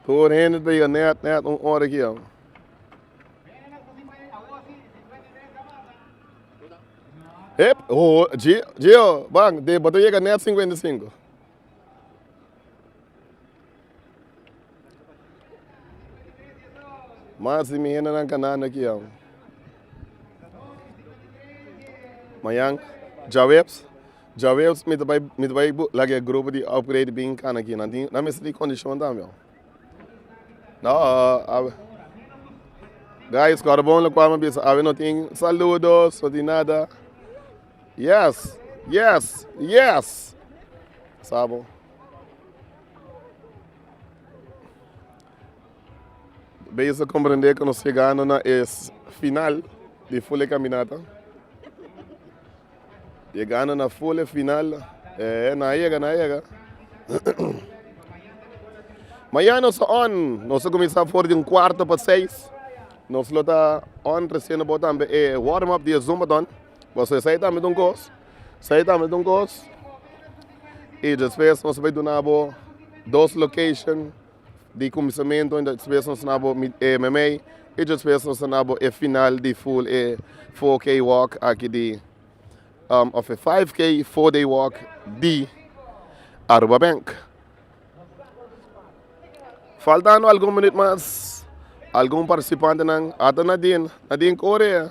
Tur hende ta yega nèt nèt un ora ki awa. Ep, oh, Gio, Gio, bang, de bota yega nèt 55. Mas di mi hende nan kanando aki awa. Mañan, Jaweps. Jawel, mi ta bai mi ta bai laga e grupo di upgrade bin kana aki nan tin nan mester tin kondishon tambe ho no a guys kòrbon lokual mi a bisa awe no tin saludos no tin nada yes yes yes sa bo bes a komprende ku nos yegando na e final di ful e kaminata. Yegando na fole final eh na yega na yega Mañana nos ta on nos ta cuminsa for di un cuarto pa seis nos lo ta on reciendo bo tambe e warm up di e zumbathon pasobra esey tambe ta un cos esey tambe ta un cos y despues nos ta bay duna bo dos location. Di kuminsamentu e djospees nos na bo mit e meimei, e djospees nos ta na bo e final di ful e four kei wòk aki di òf e five kei four dei wòk di Aruba Bank. Faltando algun minüt mas algun partisipantenan a ta na den na den kore.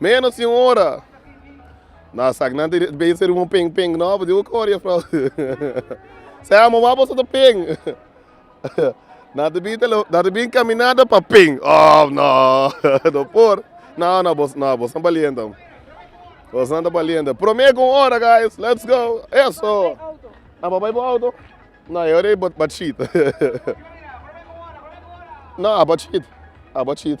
Menos di un ora! No, esaknan ta bini ser un peng peng no, bo dibu kore jufrouw. Esei amo wak boso ta peng. Nan ta bini ta lo, nan ta bini caminada pa peng. Ohh no, no por. No, no, boso no, boso no baliente amo. Boso nan ta baliente. Prome ku un ora guys, let's go! Eso! Nan papay bo auto? No, e ora ei bo bo chit. No, a bo chit, a bo chit.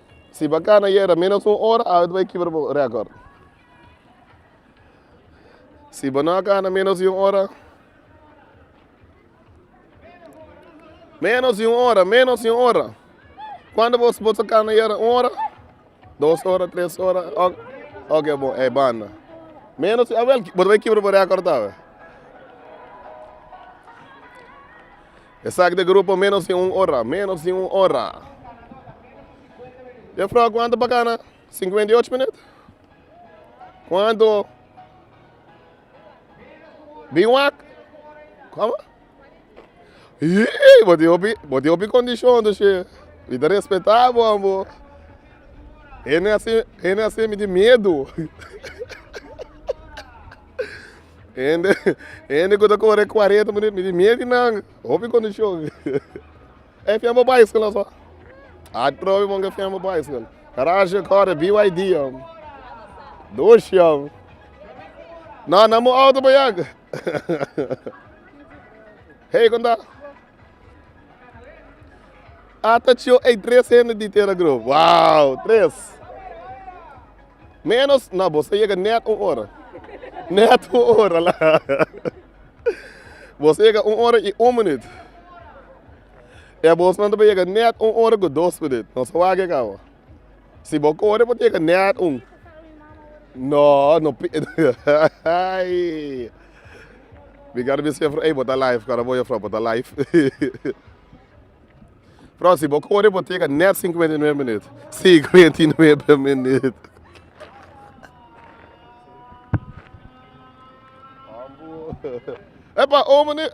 Si bo a ka na yera ménos un ora, ábito bo a kibra bo rékòrt. Si bo no a ka na ménos di un ora, ménos di un ora, ménos di un ora, kuantu bo bo ta ka na yera? Un ora, dos ora, tres ora, òk, òk e bon, e banda. Ménos di, awèl, bo ta bai kibra bo rékòrt awe. Esaki ta grupo Menos di un ora, Menos di un ora. Jefrouw kuantu pa kana? Sinkuenta i ocho minüt? Kuantu? Di wak? Komo? Yii, bo tin hopi, bo tin hopi kondishon tu she. Mi ta respetá bo abo. Hende asina, hende asina mi tin miedu. Hende hende ku ta kore kuarenta minüt mi di mier di nan hopi kondishon e fiel bo baiskol aso atrobe bo ke fiel bo baiskol garashi a kore byd a doshi a nan nan bo auto paya hey konta. Ata ciò ei tres hende di Tera Grove. Wow! Tres. Ménos? Nò, bos ta yega nèt un ora. Nèt un ora la. Bos ta yega un ora i un minuut. E abosnan ta bay yega nèt un ora ku dos minuut. Nos a wak yega awa. Si bo kore bo tin ke net un no no aii mi karo bisti juffrouw ey bo ta live karo bo juffrouw bo ta live bro si bo kore bo tin ke net cincuenta y nuebe minüt cincuenta y nuebe minüt epa un minüt.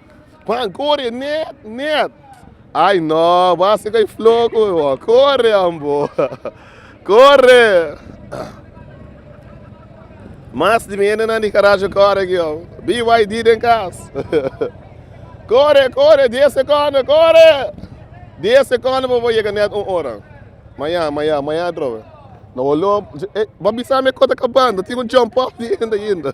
Juan, Corre, Ned, Ned! Ay no, bo a haci cu e floco e bo. Corre, ambo. Corre! Mas di mi hendenan di Karachi corre aki, oh. BYD den cas. Corre, corre, dies seconden, corre! Dies seconden pa bo yega net un ora. Maya, maya, maya atrobe. No bo loop. Ey, bo a bisa mi e kota acabando. Tin un jump off di hende ainda.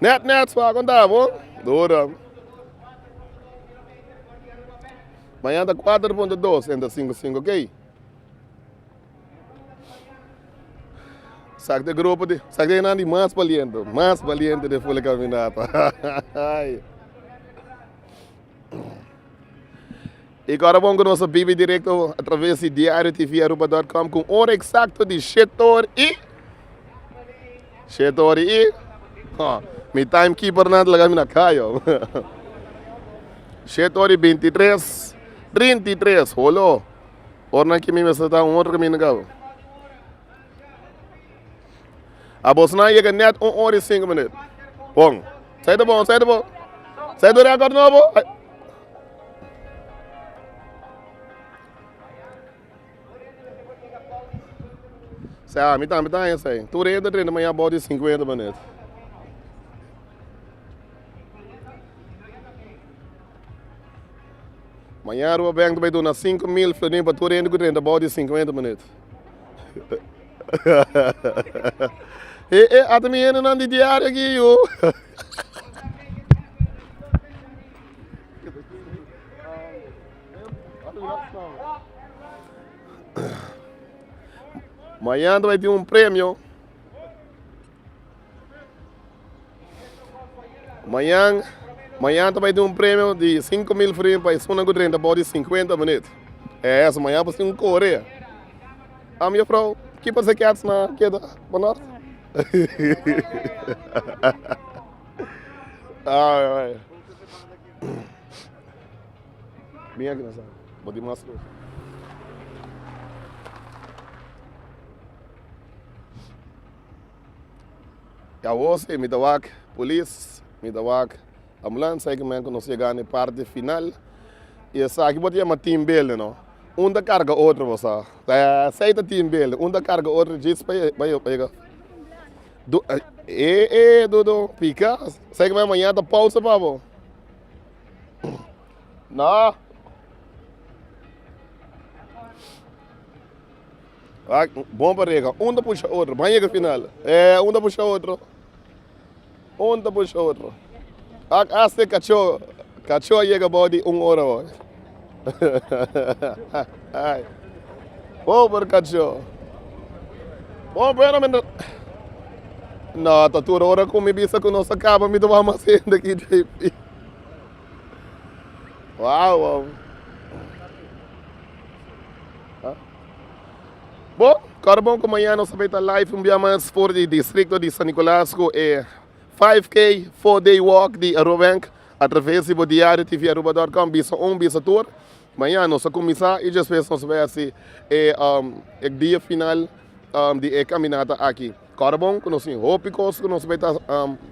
Net net spa konta bo ora mañana ta cuatro punto dos entre cinco cinco key sak te grupo di sak te nan di mas baliente mas baliente den ful a caminata hahaha. E kòrda bon ku nos a bibi direkto atraves di Diario TV Aruba dòt kòm ku un ora eksakto di shete or i shete or i hò mi taim kipernan ta laga mi na kaya shete or i binti i tres trinta i tres holo ornan ki mi mester ta un otro kaminda kaba. Abosnan yega nèt un ora i sinku minüt. Bon, sa i ta bon, sa i ta bon. Sa i ta rèkòrd nobo. Sa ami tambe ta haña esei. Tur hende ta drenta mañana abou di sinkuenta minüt. Mañana Aruba Bank ta bai duna sinku mil florinin pa tur hende ku drenta abou di sinkuenta minüt. e e ata mi hendenan di diario aki yu mañana ta bay tin un premio. Mañan mañan ta bai tin un premio di 5 mil frin pa esuna ku drenta bou di 50 minut. Eh, so mañan por sin un korea. Am yo frou, ki por se kets na keda pa nort? Ai, ai. Bin aki na sa, bo tin mas kosa. I awor si mi ta wak polis, mi ta wak ambulansa, e kimen ku nos yega na e parti final. I esaki bo ta yama team building no, un ta karga otro bo sa, esei ta team building, un ta karga otro djis pa yega. E e dudu pika, esei kimen mañana ta pousa pa bo. No. Ak bon pa rega, un ta pusha otro, ban yega final, eh un ta pusha otro, un ta pusha otro, ak asta e kacho, kacho a yega abao di un ora hoy, ay pober kacho, bon pero mi ta, no ta tur ora ku mi bisa ku nos ta kaba mi ta wak mas hende aki JP, wow wow. Bo, kòrda bon ku mañana nos ta bay ta live un bia mas for di distrikto di San Nicolas ku e five K four day walk di Aruba Bank atraves di bo diario TV Aruba dòt kòm bisa un bisa tur. Mañana nos ta kuminsá i despues nos ta bay hasi e e dia final di e kaminata aki. Kòrda bon ku nos tin hopi kos ku nos bay ta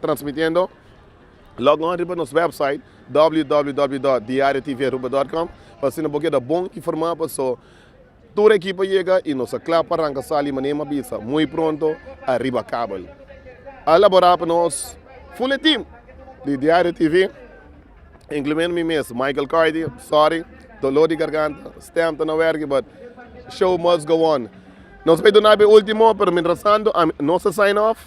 transmitiendo. Log on riba nos wèpsait www dòt diario TV Aruba dòt kòm pa asina bo keda bon informá paso. Tur ekipo yega y nos a cla pa ranca sali manera m'a bisa muy pronto ariba kabel. A elabora pa nos fuletin di Diario TV, incluyendo mi mes, Michael Carty, sorry, dolor di garganta, stem ta na werki but show must go on. Nos bay duna bo e ultimo pero mientras tanto nos a sign off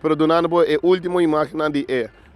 pero dunando bo e ultimo imagennan di e.